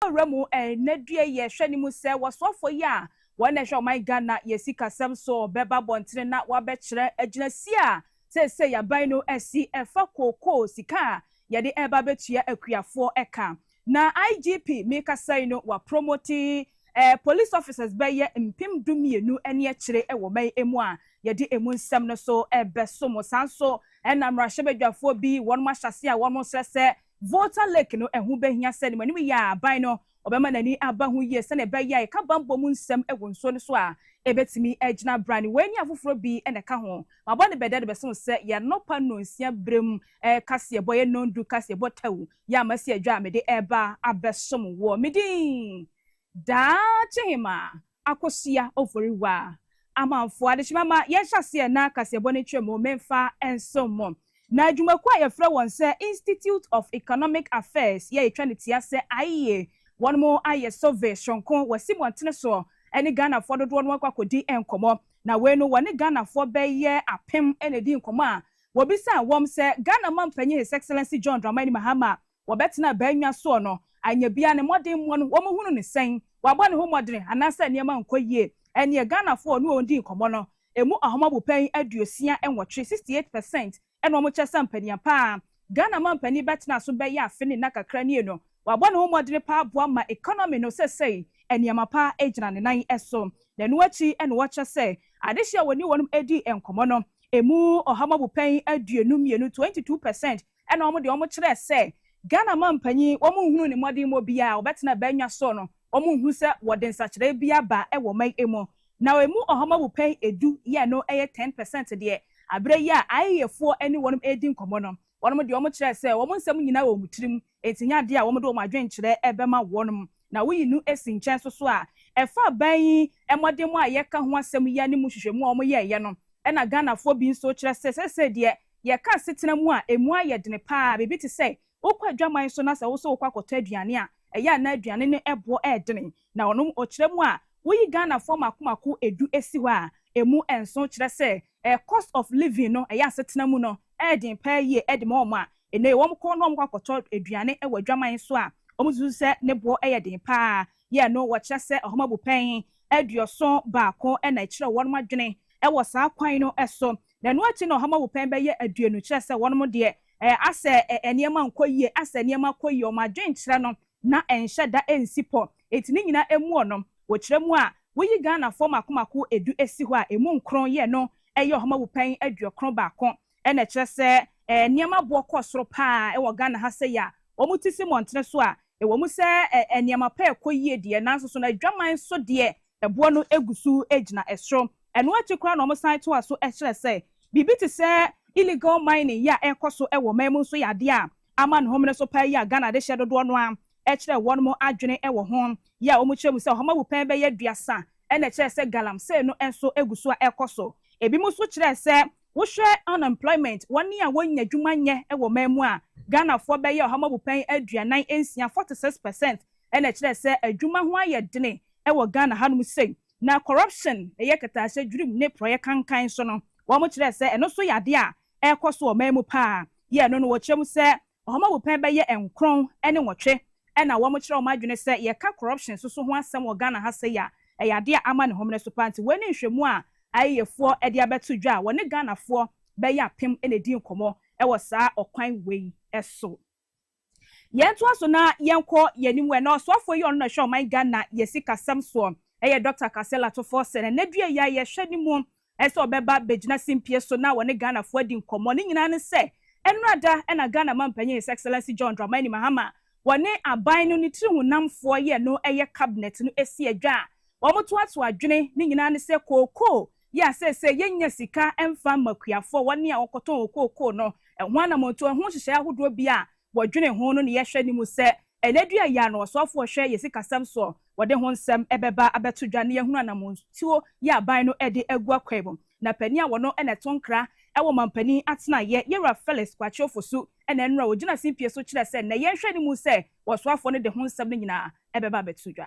Ɔwura mu ɛnɛ due yɛ hwɛ ne mu sɛ wɔsoafoɔ yi a wɔn na ɛhwɛ ɔman Ghana yɛ sikasɛm so bɛba abɔntene na wɔabɛkyerɛ agyinasie a seesei aban no asi ɛfa kookoo sika a yɛde reba abɛtua akuafoɔ ka. Na IGP mekasa yi no wɔapromote police officers bɛyɛ mpem du mmienu ne akyire wɔ man yi mu a yɛde emu nsɛm no so bɛso mo. Saa nso na mmarahyɛbadwafoɔ bi wɔnom ahyɛaseɛ a wɔn srɛ sɛ Volta Lake no, ɛho bɛhia sɛ animanim yɛ a aban no ɔbɛma n'ani aba ho yie sɛnea ɛbɛyɛ a yɛka bammɔ mu nsɛm wɔ nsuo no so a, ɛbɛtumi agyina abrane. Wei ne afoforɔ bi na ɛka ho. Mabɔ no bɛdɛ de bɛse mo sɛ, yɛ anɔpa nnɔnsia berɛ mu kaseɛbɔ, yɛ nnɔndu kaseɛbɔ tɛw, yɛ a masi adwa a mede reba abɛsom woɔ. Me din, Daakye Hemaa. Akosua Ofori Waa, Amanfoɔ adekyema ma yɛnhyɛ aseɛ na kaseɛbɔ no ntwam o, memfa nsom mo. Na adwumakuo a yɛfrɛ wɔn sɛ Institute of Economic Affairs yɛ yɛtwa no tia sɛ aeɛ wɔnom ayɛ survey soronko wɔ asibɔntene soɔ ɛne Ghanafoɔ dodoɔ no akɔ akɔdi nkɔmmɔ na wei no wɔne Ghanafoɔ bɛyɛ apem na ɛdi nkɔmmɔ a wɔbisaa wɔn sɛ Ghana mampanyin His Excellency John Dramani Mahama Wɔbɛtena baannwa soɔ no, anyɛ biaa ne mmɔdenmoɔ no wɔn hunu no sɛn? Wabɔ ne ho mmɔdene anaasɛ nneɛma nkɔ yie? Ɛnneɛ Ghana foɔ ne wɔn dii nkɔmmɔ no, ɛmu ahomabopayin aduosia nwɔtwe, 68 percent, ɛna wɔn kyerɛ sɛ mpanin pa ara Ghana mampanin bɛtena so bɛyɛ afe ne nna kakra nie no. Wabɔ ne ho mmɔdene pa ara boa ma economy no sɛsɛi nneɛma pa ara gyina ne nan so. Na ɛno akyi na wɔkyerɛ sɛ adehye a wɔne wɔn dii nkɔmmɔ no, ɛmu ɔhomabopayin aduonu mmienu, 22 percent, Ɛna wɔn deɛ wɔn kyerɛɛ sɛ Ghana manpanyin wɔn nhunuu ne mmɔdenmɔ biara a ɔbɛtena bɛnnwa soɔ no wɔn nhu sɛ wɔde nsakyeraɛ bi aba wɔ ɔman emu na emu ɔhɔma mu pɛn edu yɛ ɛno yɛ ten percent deɛ aberɛ yi a IEA foɔ ne wɔn redi nkɔmɔ no wɔn deɛ wɔn kyerɛɛ sɛ wɔn nsɛm nyinaa wɔ wɔn tirim enti nyɛ adeɛ a wɔn de wɔn adwenkyerɛ bɛma wɔn na woyi no si nkyɛn so so a ɛfa aban yi mmɔdenmɔ a yɛka ho asɛm yi ne mu nhwehwɛmu a wɔn yɛɛyɛ no ɛna Ghanafoɔ bi nso kyerɛ sɛ seesei deɛ Yɛka asetena mu a emu ayɛ den paa a, biribi te sɛ wokɔ adwaman so na sɛ wo nso wokɔ akɔtɔ aduane a, ɛyɛ a na aduane no boɔ redene. Na ɔno ɔkyerɛ mu a, woyi Ghanafoɔ mako mako du si hɔ a, emu nson, kyerɛ sɛ cost of living no, ɛyɛ asetena mu no, ɛyɛ den paa yie de ma wɔn a ɛnɛ wɔkɔ na wɔkɔ akɔtɔ aduane wɔ adwaman so a, wɔsusu sɛ ne boɔ yɛ den paa. yɛ no, wɔkyerɛ sɛ nhoma bupɛn aduɔson baako na ɛkyerɛw wɔn adwene wɔ saa kwan no so, na ɛno akyi no nhoma bupɛn bɛyɛ aduonu kyerɛ sɛ wɔn deɛ, asɛ nneɛma nkɔ yie, asɛ nneɛma kɔ yie, wɔn adwenkyerɛ no na ɛnhyɛ da nsi pɔ. Enti ne nyinaa muɔ no, wɔkyerɛ mu a, woyi Ghanafoɔ mmaako mmaako du si hɔ a, ɛmu nkron yɛ no yɛ nhoma bupɛn aduɔkron baako. Ɛna ɛkyerɛ sɛ ɛɛ nneɛma boɔ kɔ soro paa ɛwɔ Ghana ha sɛyi a wɔn ti si mmɔntene so a, ɛwɔ mu sɛ ɛɛ nneɛma pa ɛkɔ yie deɛ nanso so no adwaman so deɛ ɛboɔ no gu so gyina soro. Ɛno akyi koraa na wɔn san toa so kyerɛ sɛ biribi te sɛ illegal mining yi a ɛrekɔ so wɔ ɔman mu nso yɛ adeɛ a ama ne homene so paa yi a Ghana de hyɛ dodoɔ no ara ɛkyerɛ wɔn mo adwene ɛwɔ ho yi a wɔn kyerɛ mu sɛ ɔhama wupɛn bɛyɛ aduasa ɛna ɛkyerɛ sɛ galamsey no nso gu so a ɛrekɔ so. Ɛbinom nso kyerɛ sɛ Wohwɛ unemployment, wɔn a wɔnnya adwuma nyɛ wɔ man mu a, Ghanafoɔ bɛyɛ ɔha mu abupɛn aduanan nsia, 46 percent, na ɛkyerɛ sɛ adwuma ho ayɛ dene wɔ Ghana hanom sei. Na corruption, ɛyɛ kɛtɛahyɛ dwirim ne porɔeɛ kankan nso no, wɔkyerɛ sɛ ɛno nso yɛ adeɛ a ɛrekɔ so wɔ man mu pa ara. Yɛ ɛno no, wɔkyerɛ mu sɛ Wɔn awupɛn bɛyɛ nkron ne nwɔtwe na wɔn kyerɛ wɔn adwene sɛ yɛka corruption so so ho asɛm wɔ Ghana ha sei a ɛyɛ adeɛ a ama ne homene so paa nti wei ne nhwɛmu a ayeyefoɔ de abɛto dwa a wɔne Ghanafoɔ bɛyɛ apem na ɛdi nkɔmɔ wɔ saa ɔkwan wei so. Yɛn ntoa so na yɛn kɔ yɛn anim wɔ ɛnɛ ɔsoafoɔ yi ɔno na ɛhwɛ ɔman Ghana yɛ sikasɛm soɔ ɛyɛ Doctor Kasela Tofoɔ Sɛn ɛnɛ dua yi a yɛ hwɛ ne mu Ɛyɛ sɛ ɔbɛba abɛgyina simpie so na ɔne Ghanafoɔ adi nkɔmmɔ. Ne nyinaa ne sɛ, ɛnnora da na Ghana Mampanyin His Excellency John Dramani Mahama, wɔne aban no ne tiri honamfoɔ yi a ɛno yɛ Cabinet no asi adwa a wɔtoato adwene, ne nyinaa ne sɛ kookoo yi a seesei yɛnnya sika mfa mma akuafoɔ, wɔn a wɔkɔtɔn kookoo no, ɛho anamɔntuo, ɛho nhyehyɛeɛ ahodoɔ bi a wɔdwene ho no na yɛhwɛ anim sɛ ɛnnɛ dua yi ara no ɔsoafo a ɔhwɛ yɛn sikasɛm soɔ no, wɔde ho nsɛm bɛba abɛto dwa na yɛahunu anammɔntuo yi a aban no de agu akwan mu. Na panin a ɔno na ɛto nkra wɔ ɔmampanin atenaeɛ, Yewura Felix Kwakye Ofosu na nnora ɔgyina simpie so kyerɛ sɛ nnɛ yɛnhwɛ anim sɛ ɔsoafoɔ no de ho nsɛm no nyinaa bɛba abɛto dwa.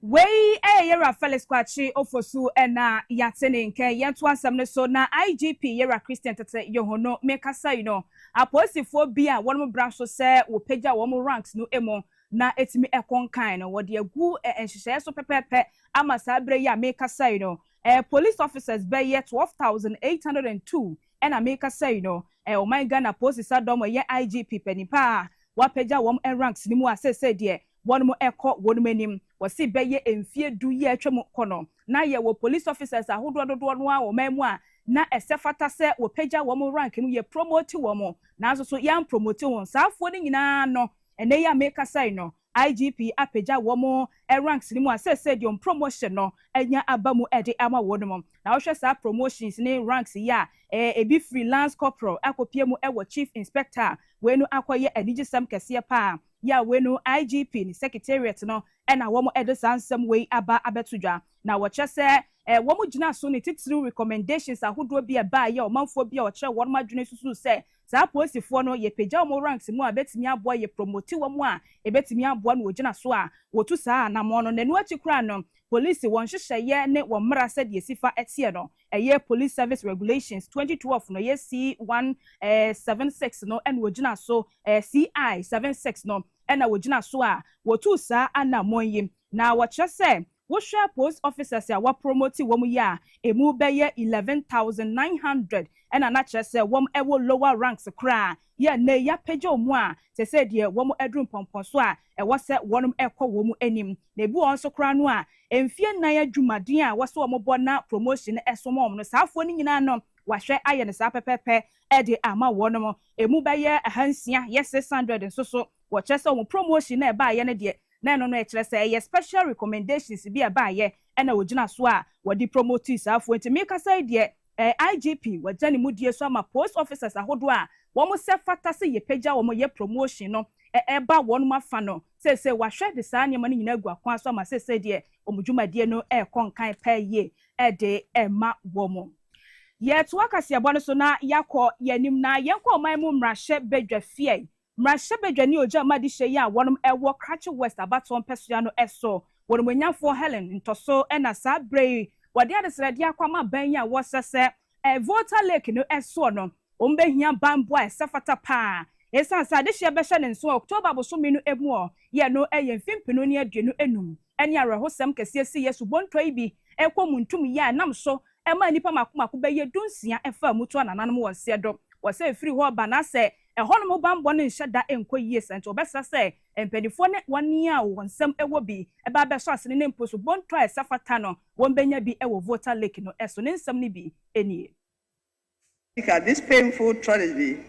Wei yɛ Yɛwura Felix Kwakye Ofosu na yɛate ne nka. Yɛntoa nsɛm no so na IGP Yɛwura Christian Tetteh Yohonu mekasa yi no, apolisifoɔ bi a wɔnom bra so sɛ wɔpagya wɔn ranks no mu na ɛtumi ɛkɔ nkan no, wɔde agu nhyehyɛeɛ so pɛpɛɛpɛ ama saa berɛ yi a mekasa yi no, police officers bɛyɛ twelve thousand eight hundred and two na mekasa yi no, ɔman Ghana Apolisisadɔm ɛyɛ IGP panin pa a wɔapagya wɔn ranks no mu a seesei deɛ Wɔn mo ɛkɔ wɔn mo anim. Wɔse bɛyɛ mfie du yi a atwa mu kɔ no, na yɛwɔ police officers ahodoɔ dodoɔ no ara wɔ ɔman mu a na ɛsɛ fata sɛ wɔpagya wɔn mo rank mu, yɛ promote wɔn mo, nanso so yɛn promote wɔn. Saa afoɔ no nyinaa ano, ɛnnɛ yi a meekasa yi no, IGP apagya wɔn mo ranks no mu a seesei deɛ wɔn promotion no anya aba mu de ama wɔn mo. Na wohwɛ saa promotions ne ranks yi a, ɛɛ ebi firi Lance Corporal akɔpue mu wɔ Chief Inspector a, wei no akɔyɛ anigyesɛm kɛseɛ pa ara. Yaweh no IGP ne Secretariat no na wɔn de saa nsɛm wei aba abɛto dwa, na wɔkyerɛ sɛ wɔn gyina so ne titiriw recommendations ahodoɔ bi a ɛbaeɛ a ɔmanfoɔ bi a ɔkyerɛ wɔn adwene susuu sɛ saa apolisifoɔ no yɛpagya wɔn ranks mu a ɛbɛtumi aboa yɛ promote wɔn a ɛbɛtumi aboa na wɔgyina so a wɔtu saa anamɔn no. Na ɛno akyi koraa no polisi wɔn nhyehyɛeɛ ne wɔn mmara sɛdeɛ ɛsi fa teɛ no ɛyɛ Police Service Regulations twenty twelve no, ɛyɛ CI one seven six no na wɔgyina so, CI seven six no na wɔgyina so a wɔtuu saa anammɔn yi. Na wɔkyerɛ sɛ wohwɛ Post Officers a wɔapromote wɔn yi a, ɛmu bɛyɛ eleven thousand nine hundred na na kyerɛ sɛ wɔwɔ lower ranks koraa. Yɛ nnɛ yi apagya wɔn a te sɛ deɛ wɔn aduru mpɔmpɔ so a ɛwɔ sɛ wɔnom ɛkɔ wɔn anim. Na ebi wɔ hɔ nso koraa no a mfie nnan adwuma den a ɛwɔ sɛ wɔn bɔ na promotion no ɛso wɔn no saa afoɔ no nyinaa no wahwɛ ayɛ no saa pɛpɛpɛ de ama wɔnom. Emu bɛyɛ ahansia yɛ six hundred nso so wɔkyerɛ sɛ wɔn promotion no a ɛbaeɛ no deɛ na ɛno no ɛkyerɛ sɛ ɛyɛ special recommendations bi a ɛbaeɛ ɛna wɔgyina so a wɔde promotii saa afoɔ yi. Nti mekasa yi deɛ AIGP wagya ne mudie so ama post officers ahodoɔ a wɔn sɛ fata sɛ yɛpagya wɔn yɛ promotion no ɛreba wɔn afa no seesei wahwɛ de saa nneɛma no nyinaa agu akwan so ama seesei deɛ wɔn dwumadie no ɛrekɔ nkan paa yie de rema wɔn. Yɛtoa kaseɛbɔ no so na yɛakɔ yɛn anim na yɛnkɔ ɔman mu mmarahyɛ badwa fie. Mmarahyɛbadwa ne Ogya mu Adehyeɛ yi a wɔnom ɛwɔ Krachi West abatoɔ mpɛsoa no ɛso wɔnomuanyanfoɔ Helen Ntɔso ɛna saa berɛ yi wɔde adesrɛdeɛ akɔ ama aban yi a wɔsrɛ sɛ ɛɛ Volta Lake no ɛsoɔ no wɔn bɛhia banbɔ a ɛsɛ fata paa ɛsiane sɛ adehyeɛ bɛhyɛ ne nso wɔ October abosome no ɛmu ɔ yɛ no ɛyɛ mfempenu ne aduonu ɛnum ɛne awerɛhosɛm kɛseɛ siiɛ subontoa yi bi ɛkɔ muntum yɛ a ɛnam so ɛmaa nnipa mako mako bɛyɛ dunsia ɛfaa mu to anananom wɔn seɛ do wɔ sɛ ɛfiri hɔ reba na sɛ Ɛhɔnom bammɔ no nhyɛ da nkɔ yie saa nti wɔbɛsrɛ sɛ mpaninfoɔ ne wɔn a wɔn nsam wɔ bi ba abɛsɔ asene ne mpo subonto a ɛsɛ fata no wɔbɛnya bi wɔ Volta Lake no so. Ne nsɛm no bi nie. Sika, This painful tragedy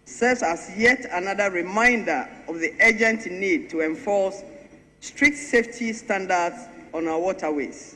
serves as yet another reminder of the urgent need to enforce strict safety standards on our waterways.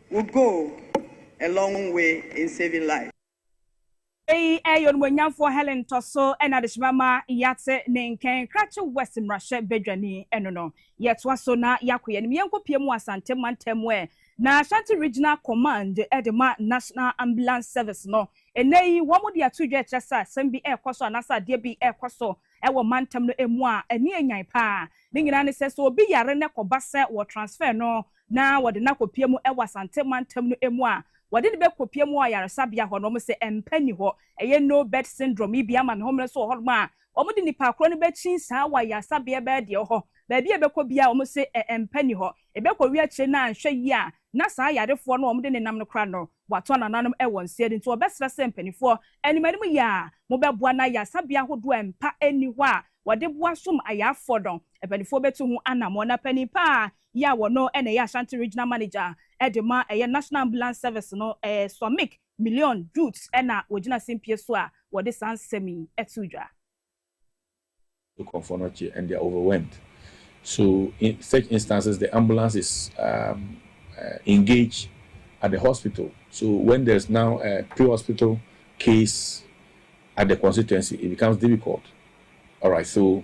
would go a long way in saving lives. Eyi yɛ Onimuonyamfoɔ Helen Ntɔso na adehyema ma yɛate ne nkɛn, Krache West mmarahyɛ badwani no no. Yɛtoa so na yɛakɔ yɛn anim, yɛnkɔ pue mu Asante mantam mu ɛ, na Ashanti Regional Command de ma National Ambulance Service no, nnɛ yi wɔn de ato dwa kyerɛ sɛ asɛm bi ɛrekɔ so anaasɛ adeɛ bi ɛrekɔ so wɔ mantam no mu a ani ɛnyan paa. Ne nyinaa ne sɛ, sɛ obi yare na ɛkɔba sɛ wɔ transfer no na wɔde no akɔpue mu wɔ Asante mantam no mu a, wɔde no bɛkɔpue mu wɔ ayaresabea hɔ na wɔsɛ mpa nni hɔ. Ɛyɛ no bed syndrome yi bi ama ne homene nso wɔ hɔnom a, wɔde nnipa korɔ no bɛkyin saa wɔ ayaresabea bɛɛ deɛ wɔ hɔ. Baabi a ɛbɛkɔ biara wɔsɛ ɛ mpa nni hɔ. Ɛbɛkɔwie akyire no a anhwɛ yie a na saa yarefoɔ no a wɔde no nam no koraa no watɔ anananom wɔ nseɛ no nti wɔbɛsrɛ sɛ mpaninfoɔ anim anim yi a mobɛboa na ayaresabea ahodoɔ a mpa nni hɔ a wɔde boa som ayarefoɔ no mpaninfoɔ bɛtu ho anammɔn na panin pa ara yi a wɔno na ɛyɛ Ashanti Regional Manager de ma ɛyɛ National Ambulance Service no Swamik Million Jute na wɔgyina sempie so a wɔde saa nsɛm yi too dwa. Nkurɔfoɔ no kye and they are overwhelmed so in such instances the ambulance is um engaged at the hospital so when there's now a pre-hospital case at the constituency it becomes difficult alright so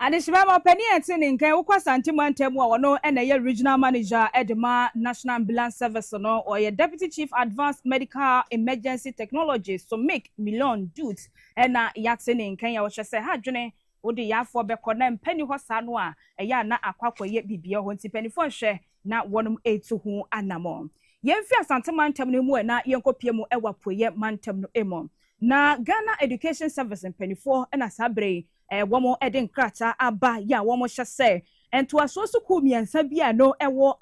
Adehyemma ma ɔpanin a ɛte ne nka a ɛwɔ Kwasante mantam mu a ɔno na ɛyɛ Regional Manager de ma National Ambulance Service no, ɔyɛ Deputy Chief Advanced Medical Emergency Technology, SOMIC, Milon Dut na yɛate ne nka yi a ɔhyɛ sɛ, Ha dwene, wode yarefoɔ bɛkɔ na mpa nni hɔ saa no a, ɛyɛ a na akɔ akɔyɛ biribiara wɔ hɔ nti mpanimfoɔ nhwɛ na wɔnom tu ho anammɔn. Yɛmfiri Asante mantam no mu na yɛnkɔpue mu wɔ Apueɛ mantam no mu. Na Ghana Education Service mpanimfoɔ na saa berɛ yi Wɔde nkrataa aba yɛ a wɔhyɛ sɛ ntoasoɔ sukuu mmiɛnsa bi a ɛno ɛwɔ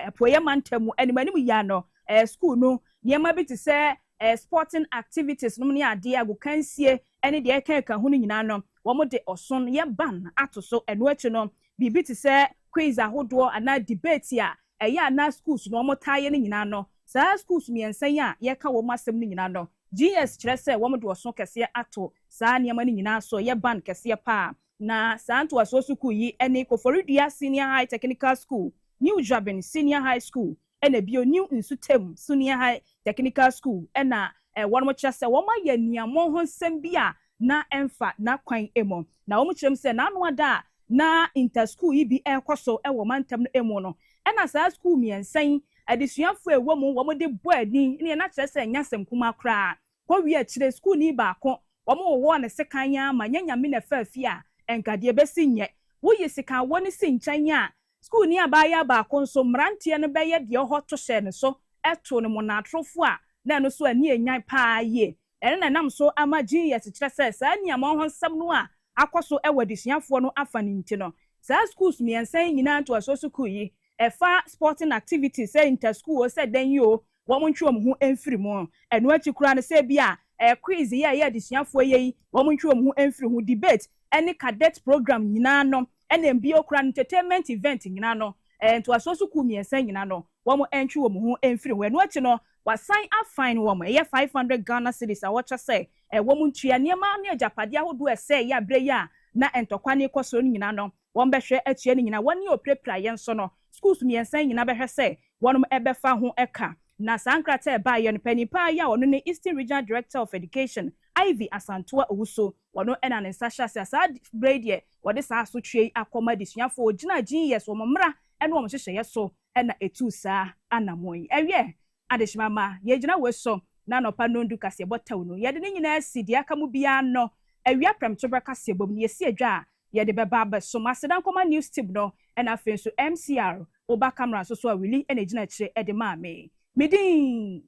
Apueeɛ mantam mu anim anim yia no sukuu no nneɛma bi te sɛ sporting activities nom ne adeɛ, agokansie ne deɛ ɛka ɛka ho no nyinaa no wɔde ɔson yɛ ban ato so. Ɛno akyi no biribi te sɛ quiz ahodoɔ anaa debate a ɛyɛ a na schools no wɔtaa yɛ no nyinaa no saa schools mmiɛnsa yi a yɛreka wɔn asɛm no nyinaa no GS kyerɛ sɛ wɔde ɔso kɛseɛ ato saa nneɛma no nyinaa so yɛ ban kɛseɛ pa ara. Na saa ntoasoɔ sukuu yi ne Koforidua Senior High Technical School, New Dwabin Senior High School, ɛna bio New Nsutem Senior High Technical School na wɔnom kyerɛ sɛ wɔn ayɛ aniammɔn ho nsɛm bi a na ɛmfa n'akwan mu. Na wɔn kyerɛ mu sɛ n'ano ada a na inter sukuu yi bi rekɔ so wɔ mantam no mu no ɛna saa sukuu mmiɛnsa yi adesuafoɔ a ɛwɔ mu wɔn de bɔ ani ne na kyerɛ sɛ ɛnyɛ asɛm kumaa koraa. Kɔ wie akyire sukuuni baako wɔn wowɔɔ no sekan yaa ma nyɛ nyame na ɛfaa fie a ɛnka deɛ ɛbɛsi nyɛ wo yi sekan wɔ no si nkyɛn a sukuuni abaayaa baako nso mmeranteɛ no bɛyɛ deɛ ɔhɔ to hyɛɛ no so too no monaatorofoɔ a na ɛno nso ani ɛnyan paa yie ɛno na ɛnam so ama genius kyerɛ sɛ saa nniamaa ho nsɛm no a akɔ so wɔ adesuafoɔ no afa no nti no saa sukuus mmiɛnsa yi nyinaa ntoasoɔ sukuu yi Ɛfa sporting activities sɛ inter school o sɛ dɛn yi o wɔn ntwe wɔn ho mfiri mu. Ɛno akyi koraa no sɛ ebia ɛyɛ quiz yɛ ɛyɛ adesuafoɔ yɛ yi wɔn ntwe wɔn ho mfiri ho. Debate ɛne cadet program nyinaa no ɛne mbio koraa no entertainment event nyinaa no ɛɛ ntoasoɔ sukuu mmiɛnsa nyinaa no wɔn ntwe wɔn ho mfiri ho. Ɛno akyi no wasan a fine wɔn ɛyɛ five hundred Ghana cedis a wɔkyɛ sɛ ɛɛ wɔn ntua. Nneɛma ne agyapadeɛ ahodoɔ a ɛsɛeɛ berɛ yi a na ntɔkwa no rekɔ so no nyinaa no Wɔn bɛhwɛ atua ne nyina wɔn ne ɔpirapira yɛ nso no schools mmiɛnsa yi nyina bɛhwɛ sɛ wɔnom bɛfa ho ka. Na saa nkrataa ɛbaeɛ no panin paa yi a ɔno ne Eastern Regional Director of Education Ivy Asantua Owusu ɔno na ne nsa hyɛ ase a saa berɛ yi deɛ wɔde saa asotweɛ yi akɔma adesuafoɔ ɔgyina gyiniyɛ so wɔn mmara ne wɔn nhyehyɛeɛ so na ɛtuu saa anamɔn yi. Ɛwiɛ Adehyema ma yɛgyina woi so, N'anɔpa nnɔndu kaseɛ bɔ tɛw no, Yɛde ne nyinaa si deɛ aka mu biara ano, Awia prɛmtoberɛ kaseɛ bɔ mu no, Yɛsi adwa a yɛde bɛba abɛsom, Aseda nkɔma news team no, Ɛna afei nso MCR, Wo ba camera nso so a Willie na ɛgyina akyire de maa me, Me din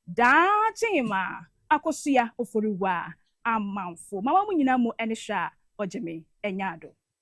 Daakye Hemma Akosua Oforiwaa Amanfo, Mama mo nyinaa mu ɛne hwɛ a ɔgye me, Ɛnyaado.